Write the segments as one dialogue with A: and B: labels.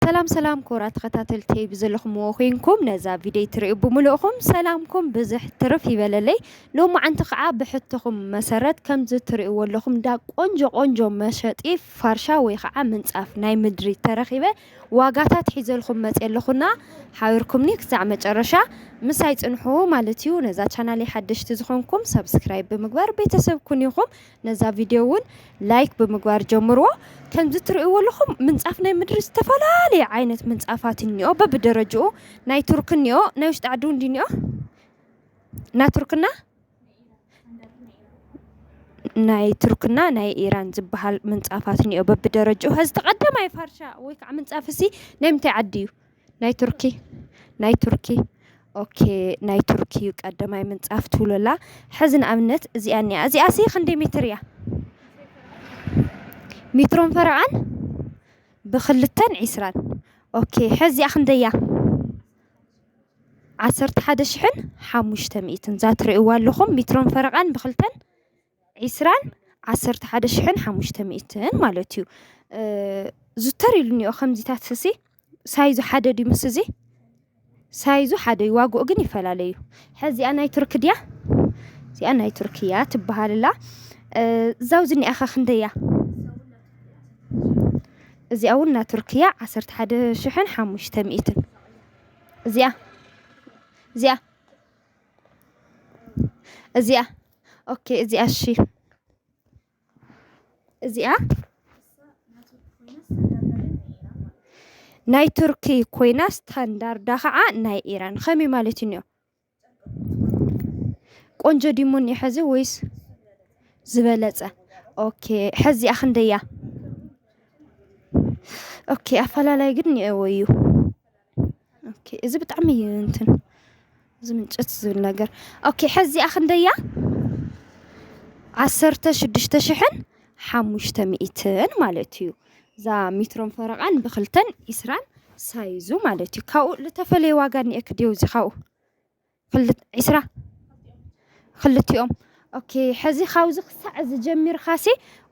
A: ሰላም ሰላም ክቡራት ተኸታተልተይ ብዘለኹምዎ ኮይንኩም ነዛ ቪድዮ ትሪኡ ብምልእኹም ሰላምኩም ብዝሕ ትርፍ ይበለለይ። ሎማዓንቲ ከዓ ብሕቶኹም መሰረት ከምዚ ትሪእዎ ኣለኹም እንዳ ቆንጆ ቆንጆ መሸጢ ፋርሻ ወይ ከዓ ምንፃፍ ናይ ምድሪ ተረኺበ ዋጋታት ሒዘልኩም መፅ ኣለኹና ሓቢርኩምኒ ክሳዕ መጨረሻ ምሳይ ፅንሑ ማለት እዩ። ነዛ ቻናለይ ሓደሽቲ ዝኾንኩም ሰብስክራይብ ብምግባር ቤተሰብ ኩን ኢኹም። ነዛ ቪድዮ እውን ላይክ ብምግባር ጀምርዎ። ከምዚ ትርእይዎ ኣለኹም ምንፃፍ ናይ ምድሪ ዝተፈላለየ ዓይነት ምንፃፋት እኒኦ በብደረጅኡ ናይ ቱርክ እኒኦ ናይ ውሽጢ ዓዲ እውን እኒኦ ናይ ቱርክና ናይ ቱርክና ናይ ኢራን ዝበሃል ምንፃፋት እኒኦ በብደረጅኡ ከዚ ተቀዳማይ ፋርሻ ወይ ከዓ ምንፃፍ እሲ ናይ ምንታይ ዓዲ እዩ? ናይ ቱርኪ ናይ ቱርኪ ኦኬ ናይ ቱርኪ እዩ ቀዳማይ ምንጻፍ ትብሎ ኣላ ሕዚ ንኣብነት እዚኣ እኒኣ እዚኣ ሲ ክንደይ ሜትር እያ ሜትሮን ፈረቓን ብክልተን ዒስራን ኦኬ ሕዚ እዚኣ ክንደይ እያ ዓሰርተ ሓደ ሽሕን ሓሙሽተ ሚእትን እዛ ትርእይዋ ኣለኹም ሜትሮን ፈረቓን ብክልተን ዒስራን ዓሰርተ ሓደ ሽሕን ሓሙሽተ ሚእትን ማለት እዩ ዙተር ኢሉ እኒኦ ከምዚታት ሲ ሳይዙ ሓደ ድዩ ምስ እዚ ሳይዙ ሓደ እዩ ዋግኡ ግን ይፈላለ እዩ ሕዚኣ ናይ ቱርክ ድያ እዚኣ ናይ ቱርክ እያ ትበሃልላ እዛው ዝኒኣኸ ክንደይ እያ እዚኣ እውን ናይ ቱርክ እያ ዓሰርተ ሓደ ሽሕን ሓሙሽተ ሚእትን እዚኣ እዚኣ እዚኣ ኦኬ እዚኣ እሺ እዚኣ ናይ ቱርኪ ኮይና ስታንዳርዳ ከዓ ናይ ኢራን ከመይ ማለት እዩ ቆንጆ ዲሙን እዩ ሕዚ ወይስ ዝበለፀ ኦኬ ሕዚኣ ክንደያ ኦኬ ኣፈላላይ ግን እኒኦዎ እዩ ኦኬ እዚ ብጣዕሚ እዩ እንትን እዚ ምንጭት ዝብል ነገር ኦኬ ሕዚኣ ክንደያ ዓሰርተ ሽዱሽተ ሽሕን ሓሙሽተ ሚእትን ማለት እዩ እዛ ሚትሮን ፈረቓን ብክልተን ኢስራን ሳይዙ ማለት እዩ ካብኡ ልተፈለየ ዋጋ እኒኤኪ ድዩ እዚ ካብኡ ዒስራ ክልቲኦም ኦኬ ሕዚ ካብዚ ክሳዕ እዚ ጀሚርካሲ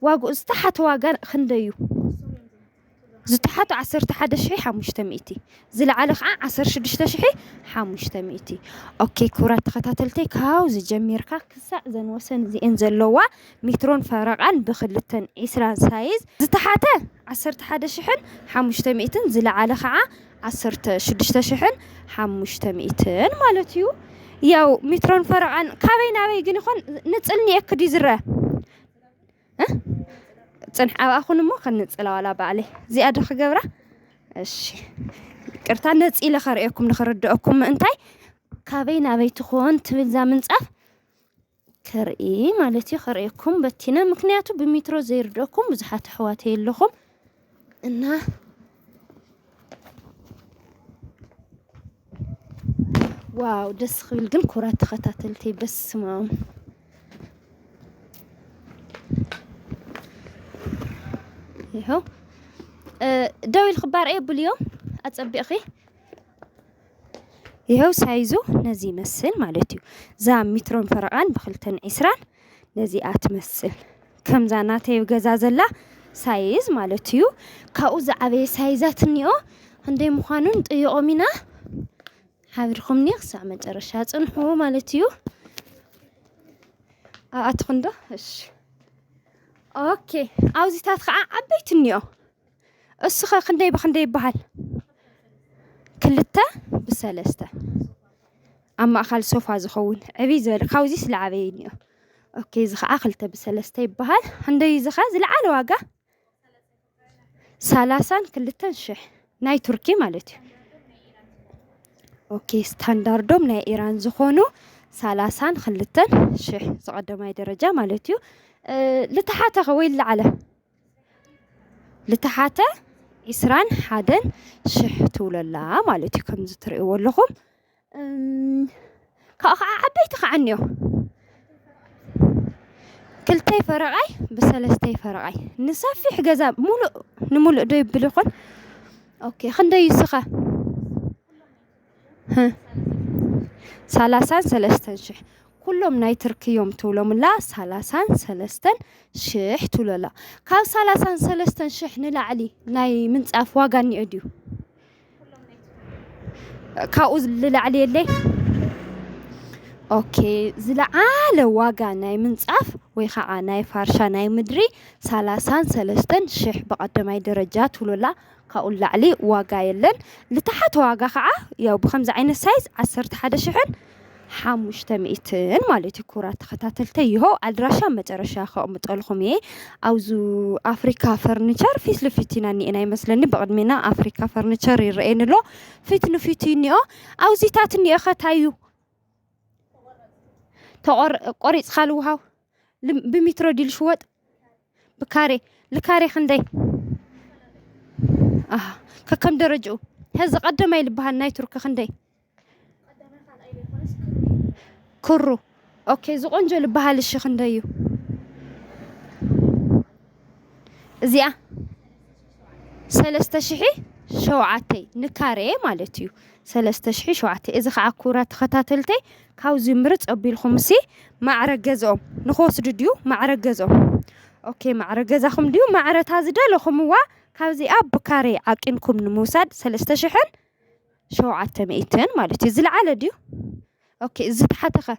A: ዋግኡ ዝተሓተ ዋጋ ክንደይ እዩ? ዝተሓተ ዓሰርተ ሓደ ሽሕ ሓሙሽተ ሚእቲ ዝለዓለ ከዓ ዓሰርተ ሽዱሽተ ሽሕ ሓሙሽተ ሚእቲ ኦኬ ክቡራት ተኸታተልተይ ካብዚ ጀሚርካ ክሳዕ ዘን ወሰን እዚኤን ዘለዋ ሜትሮን ፈረቓን ብክልተን ዒስራ ሳይዝ ዝተሓተ ዓሰርተ ሓደ ሽሕን ሓሙሽተ ሚእትን ዝለዓለ ከዓ ዓሰርተ ሽዱሽተ ሽሕን ሓሙሽተ ሚእትን ማለት እዩ ያው ሚትሮን ፈረቓን ካበይ ናበይ ግን ይኾን ንፅል ኒኤክ ድዩ ዝረአ እ? ፅንሕ ኣብኣ ኩን እሞ ክንፅላ ዋላ ባዕለይ እዚኣ ዶ ክገብራ እሺ ይቅርታ ነፂለ ከርእየኩም ንክርድአኩም ምእንታይ ካበይ ናበይ ትኾን ትብል እዛ ምንፃፍ ከርኢ ማለት እዩ ከርእየኩም በቲነ ምክንያቱ ብሚትሮ ዘይርደኩም ብዙሓት ኣሕዋት የለኹም እና ዋው ደስ ክብል ግን ኩራት ተኸታተልቲ በስማም ይኸው ደው ኢልክባር እየ ብልዮ ኣጸቢቕኺ ይሀው ሳይዙ ነዚ ይመስል ማለት እዩ እዛ ሚትሮን ፈረቓን ብክልተን ዒስራን ነዚኣ ትመስል ከምዛ ናተይ ገዛ ዘላ ሳይዝ ማለት እዩ ካብኡ ዝዓበየ ሳይዛት እኒኦ ክንደይ ምዃኑን ጥይቖም ኢና ሓቢርኩምኒ ክሳብ መጨረሻ ፅንሑ ማለት እዩ ኣብኣትኹንዶ እሺ ኦኬ ኣብዚታት ከዓ ዓበይቲ እኒኦ እሱኸ ክንደይ ብክንደይ ይበሃል? ክልተ ብሰለስተ ኣብ ማእኻል ሶፋ ዝኸውን ዕብይ ዝበለ ካብዚ ስለዓበየ እኒኦ ኦኬ እዚ ከዓ ክልተ ብሰለስተ ይበሃል ክንደይ እዩ እዚ ከዓ ዝለዓለ ዋጋ ሰላሳን ክልተን ሽሕ ናይ ቱርኪ ማለት እዩ ኦኬ ስታንዳርዶም ናይ ኢራን ዝኾኑ ሰላሳን ክልተን ሽሕ ዝቐደማይ ደረጃ ማለት እዩ እ፣ ልተሓተኸ ወይ ልለዓለ ልተሓተ ዕስራን ሓደን ሽሕ ትብሎ ኣላ ማለት እዩ ከምዚ ትርእይዎ ኣለኹም ካብኡ ከዓ ዓበይቲ ከዓ እኒኦ ክልተይ ፈረቓይ ብሰለስተይ ፈረቓይ ንሰፊሕ ገዛ ሙሉእ ንሙሉእ ዶ የብል ይኾን ኦኬ ክንደይ እዩ እሱ ኸ? ህህ ሳላሳን ሰለስተን ሽሕ ኩሎም ናይ ትርኪ እዮም ትብሎምላ ሳላሳን ሰለስተን ሽሕ ትብሎላ ካብ ሳላሳን ሰለስተን ሽሕ ንላዕሊ ናይ ምንፃፍ ዋጋ እኒኦ ድዩ ካብኡ ዝላዕሊ የለይ ኦኬ ዝለዓለ ዋጋ ናይ ምንፃፍ ወይ ከዓ ናይ ፋርሻ ናይ ምድሪ ሳላሳን ሰለስተን ሽሕ ብቀዳማይ ደረጃ ትብሎላ ካብኡ ንላዕሊ ዋጋ የለን ልተሓተ ዋጋ ከዓ ያው ብከምዚ ዓይነት ሳይዝ ዓሰርተ ሓደ ሽሕን ሓሙሽተ ሚእትን ማለት እዩ ኩራ ተኸታተልተ ይሆ ኣድራሻ መጨረሻ ከቕምጠልኹም እየ ኣብዙ ኣፍሪካ ፈርኒቸር ፊት ልፊት ኢና እኒኤና ይመስለኒ ብቕድሜና ኣፍሪካ ፈርኒቸር ይረአየኒ ኣሎ ፊት ንፊት እዩ እኒኦ ኣብዚታት እኒኦ ከታዩ ተቆር- ቆሪፅካ ልውሃው ልም- ብሚትሮ ዲል ሽወጥ ብካሬ ልካሬ ክንደይ ኣሃ ከከም ደረጅኡ ሀዚ ቀደማይ ልበሃል ናይ ቱርኪ ክንደይ ክሩ ኦኬ ዝቆንጆ ልበሃል እሺ ክንደይ እዩ እዚኣ ሰለስተ ሽሒ ሸውዓተይ ንካሬ ማለት እዩ ሰለስተ ሽሒ ሸውዓተይ እዚ ከዓ ኩራ ተኸታተልተይ ካብዚ ምርጽ ኣቢልኩምሲ ማዕረ ገዝኦም ንክወስዱ ድዩ ማዕረ ገዝኦም ኦኬ ማዕረ ገዛኹም ድዩ ማዕረ እታ ዝደለኹምዋ ካብዚኣ ብካሬ ዓቂንኩም ንምውሳድ ሰለስተ ሽሕን ሸውዓተ ሚእትን ማለት እዩ ዝለዓለ ድዩ ኦኬ ዝተሓተ ከ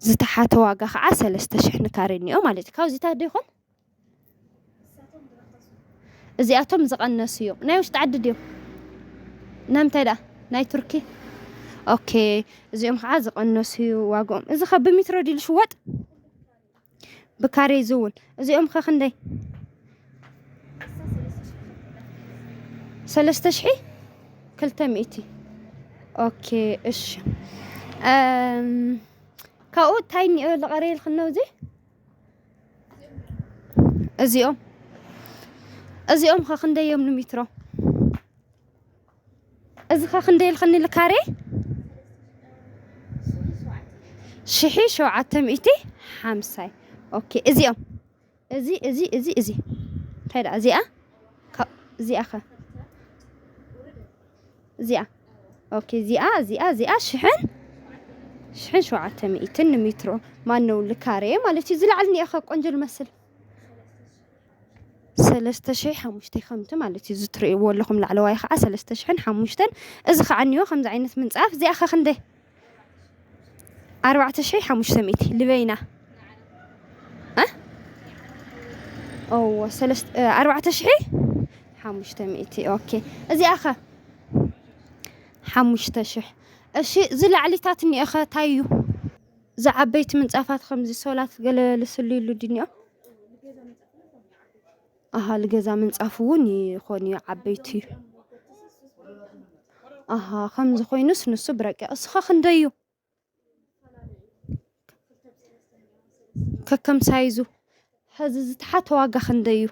A: ዝተሓተ ዋጋ ከዓ ሰለስተ ሽሕ ንካሬ እኒኦ ማለት እዩ ካብዚታት ዶ ይኾን? እዚኣቶም ዝቐነሱ እዮም። ናይ ውሽጢ ዓዲ ድዮም? ናምንታይ ደኣ ናይ ቱርኪ ኦኬ። እዚኦም ከዓ ዝቐነሱ እዩ ዋግኦም። እዚ ከ ብሚትሮ ድዩ ዝሽወጥ? ብካሬ ዝውን እዚኦም ከ ክንደይ? ሰለስተ ሽሒ ክልተ ሚእቲ ኦኬ። እሺ ካብኡ እንታይ እኒኦ ዝቐረየልክን ነው እዚ እዚኦም እዚኦም ከ ክንደይ እዮም ንሚትሮ? እዚ ከ ክንደይ ኢልክኒ ንካሬ? ሽሒ ሸውዓተ ሚእቲ ሓምሳ እዩ። ኦኬ እዚኦም እዚ እዚ እዚ እዚ እንታይ ደኣ እዚኣ ካብ እዚኣ ከ እዚኣ ኦኬ እዚኣ እዚኣ እዚኣ ሽሕን ሽሕን ሸውዓተ ሚእትን ንሜትሮ ማነው ልካሬ ማለት እዩ ዝለዓል ኒኤኸ ቆንጆ ልመስል ሰለስተ ሽሕ ሓሙሽተ ከምቲ ማለት እዩ ዝትርእይዎ ኣለኹም ላዕለዋይ ከዓ ሰለስተ ሽሕን ሓሙሽተን እዚ ከዓ እኒኦ ከምዚ ዓይነት ምንፃፍ እዚኣ ከ ክንደይ ኣርባዕተ ሽሕን ሓሙሽተ ሚእቲ ልበይና እዎ ኣርባዕተ ሽሕ ሓሙሽተ ሚእቲ ኦኬ እዚኣ ኸ ሓሙሽተ ሽሕ እሺ እዚ ላዕሊታት እኒኦ ኸ እንታይ እዩ እዚ ዓበይቲ ምንፃፋት ኸምዚ ሶላት ገለ ልስልዩሉ ድዩ እኒኦ? ኣሃ ልገዛ ምንጻፍ እውን ይኾን እዩ ዓበይቲ እዩ ኣሃ ከምዚ ኮይኑስ ንሱ ብረቂቕ እስኻ ክንደይ እዩ ከከም ሳይዙ ሕዚ ዝተሓተ ዋጋ ክንደይ እዩ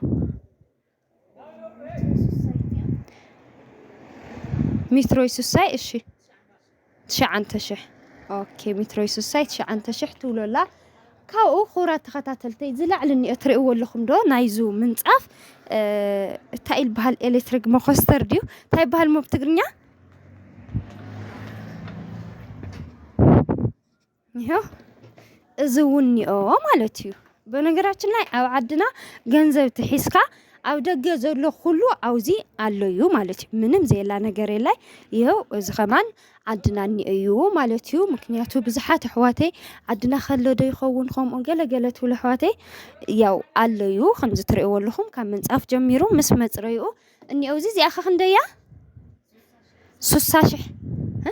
A: ሚትሮይ ስሳይ እሺ ትሽዓንተ ሽሕ ኦኬ ሚትሮይ ሱሳይ ትሽዓንተ ሽሕ ትብሎ ኣላ ካብኡ ክቡራት ተኸታተልተይ ዝላዕሊ እኒኦ ትርእይዎ ኣለኹም ዶ ናይዙ ምንፃፍ እንታይ ኢል በሃል ኤሌክትሪክ መኮስተር ድዩ እንታይ በሃል ሞብ ትግርኛ ይሄው እዚ እውን እኒኦ ማለት እዩ። በነገራችን ላይ ኣብ ዓድና ገንዘብ ትሒዝካ ኣብ ደገ ዘሎ ኩሉ ኣብዚ ኣሎ እዩ ማለት እዩ። ምንም ዘየላ ነገር የላይ። ይኸው እዚ ከማን ዓድና እኒኦ እዩ ማለት እዩ። ምክንያቱ ብዙሓት ኣሕዋተይ ዓድና ከሎ ዶ ይኸውን ከምኡ ገለገለ ትብሉ ኣሕዋተይ ያው ኣሎ እዩ ከምዚ ትርእይዎ ኣለኹም ካብ ምንፃፍ ጀሚሩ ምስ መፅረይኡ እኒኦ እዚ እዚኣ ከ ክንደይ እያ? ስሳ ሽሕ እ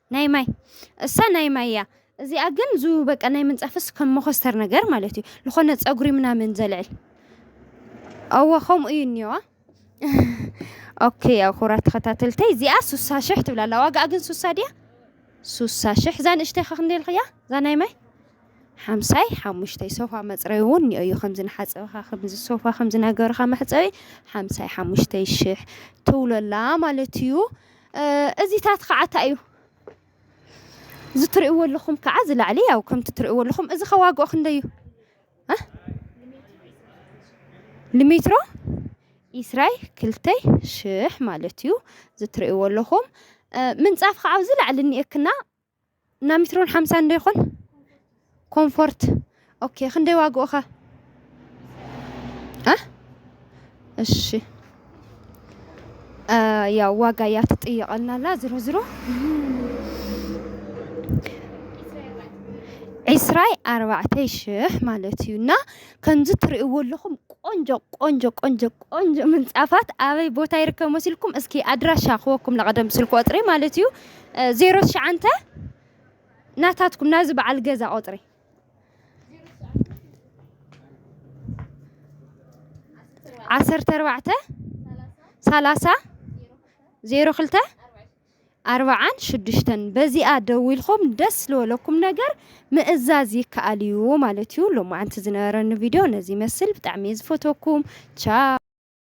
A: ናይ ማይ እሳ ናይ ማይ እያ እዚኣ ግን ዙ በቃ ናይ ምንጻፍስ ከም መኾስተር ነገር ማለት እዩ ልኾነ ጸጉሪ ምናምን ዘልዕል ኣወ ከምኡ እዩ እኒዋ ኦኬ ያው ኩራት ተኸታተልተይ እዚኣ ሱሳ ሽሕ ትብላ ኣላ ዋጋኣ ግን ሱሳ ድያ ሱሳ ሽሕ እዛ ንእሽተይ ከ ክንደይ ኢልክያ እዛ ናይ ማይ ሓምሳይ ሓሙሽተይ ሶፋ መፅረይ እውን እኒኦ እዩ ከምዚ ንሓፀብኻ ከምዚ ሶፋ ከምዚ ነገርኻ መሕፀቢ ሓምሳይ ሓሙሽተይ ሽሕ ትብሎ ኣላ ማለት እዩ እዚታት ኸዓ ታይ እዩ እዚ ትሪእዎ ኣለኹም ከዓ ዝላዕሊ ያው ከምቲ ትሪእዎ ኣለኹም እዚ ኸ ዋግኦ ክንደይ እዩ ልሜትሮ ኢስራይ ክልተይ ሽሕ ማለት እዩ እዚ ትሪእዎ ኣለኹም ምንፃፍ ኸዓ ኣብዚ ላዕሊ እኒኤክና እና ሚትሮን ሓምሳን ዶ ይኾን ኮምፎርት ኦኬ ክንደይ ዋግኡ ከ እ እሺ እ ያው ዋጋ እያ ትጥየቐልና ኣላ ዝሮ ዝሮ ዕስራይ ኣርባዕተይ ሽሕ ማለት እዩ እና ከምዚ ትርእይዎ ኣለኹም ቆንጆ ቆንጆ ቆንጆ ቆንጆ ምንፃፋት ኣበይ ቦታ ይርከብ መሲልኩም እስኪ ኣድራሻ ክወኩም ለቐደም ስልክ ቁፅሪ ማለት እዩ ዜሮ ትሽዓንተ ናታትኩም ናዚ በዓል ገዛ ቁጽሪ ዓሰርተ ኣርባዕተ ሰላሳ ዜሮ ክልተ ኣርባዓን ሽዱሽተን በዚኣ ደዊልኩም ደስ ዝበለኩም ነገር ምእዛዝ ይከኣል እዩ ማለት እዩ። ሎማዓንቲ ዝነበረኒ ቪድዮ ነዚ ይመስል። ብጣዕሚ እየ ዝፈተኩም ቻው